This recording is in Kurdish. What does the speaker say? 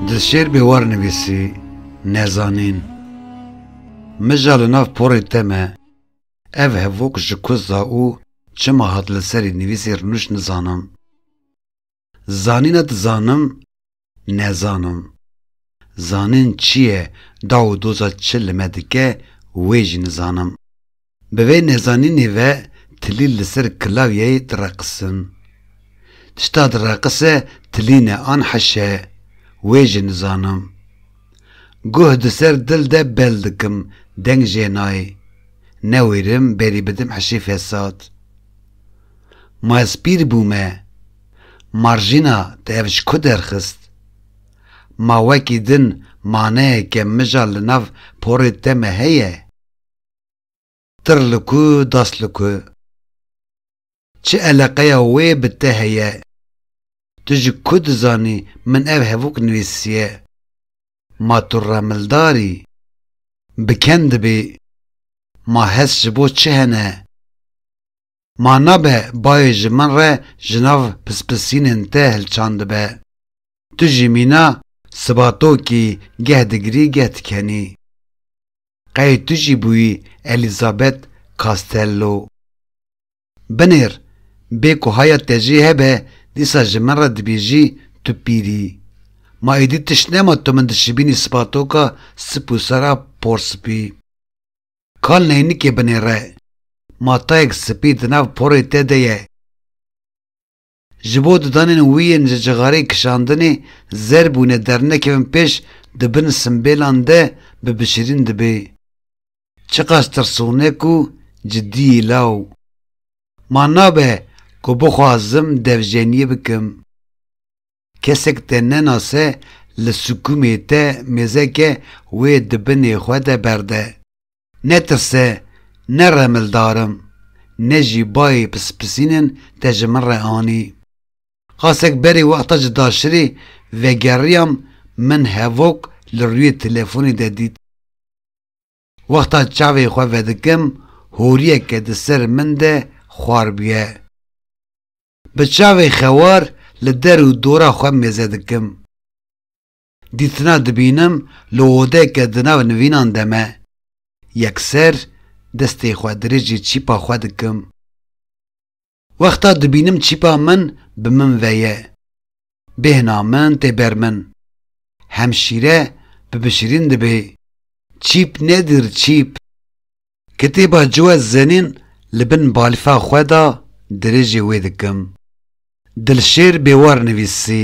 Dizşêrbê war nivîsî, Nezanîn. Mija li nav porê te me, ev hevok ji ku za û çima hat li serî nivîsî rûnişt nizanim. Zanîna dizanim Nezanim. Zanîn çi ye, daw û doza çi li me dike wê jî nizanim. Bi vê nezanînê ve tilî li ser kilawyeyê direqisin. Tişta direqise tilîn e an heş e, wê jî nizanim. Guh di ser dil de bel dikim, deng jê nayê. Ne wêrim berî bidim heşê fesad. Ma ez pîr bûme. Marjîna te ev ji ku derxist? Ma wekî din maneye ke mija li nav porê te me heye? Tir li ku das li ku? Çi eleqeya wê bi te heye? Tu ji ku dizanî min ev hevûk nivîsiye? Ma tu remildar î? Bi ken dibî? Ma hest ji bo çi hene? Ma nabe bayê ji min re ji nav pispisînên te hilçandibe. Tu jî mîna siba to kî geh digirî geh dikenî. Qey tu jî bûyî Elizabeth Castello. Binêr, bê ku haya te jê hebe dîsa ji min re dibêjî tu pîr î. Ma êdî tişt nema tu min dişibînî sibatoka sip û sera porspî. Kal neynikê binêre. Matayek spî di nav porê te de ye. Ji bo di danên wî yên ji cixarê kişandinê zer bûne dernekevin pêş di bin simbêlan de bi bişirîn dibê. Çiqas tirsûnek û cidiyî law. Ma nabe ku bixwazim devjeniyê bikim. Kesek te nenase li sikumê te mêzeke wê di binê xwe de berde. Netirse, ne remildar im, ne jî bayê pispisînin te ji min re anî. Qasek berê wexta ji daşirê vegeriyam min hevok li rûyê telefonê de dît. Wexta çavê xwe vedikim horiyeke di ser min de xwar bûye. Bi çavê xewar li der û dora xwe mêze dikim. Dîtina dibînim li odeke di nav nivînan de me. Yekser destê xwe dirêjê çîpa xwe dikim. Wexta dibînim çîpa min bi min ve ye. Bêhna min tê ber min. Hemşîre bi bişirîn dibê. Çîp nedir çîp. Kitêba Ciwe Zenîn li bin balfa xwe da dirêjê wê dikim. Dilşêr Bêwar nivîsî.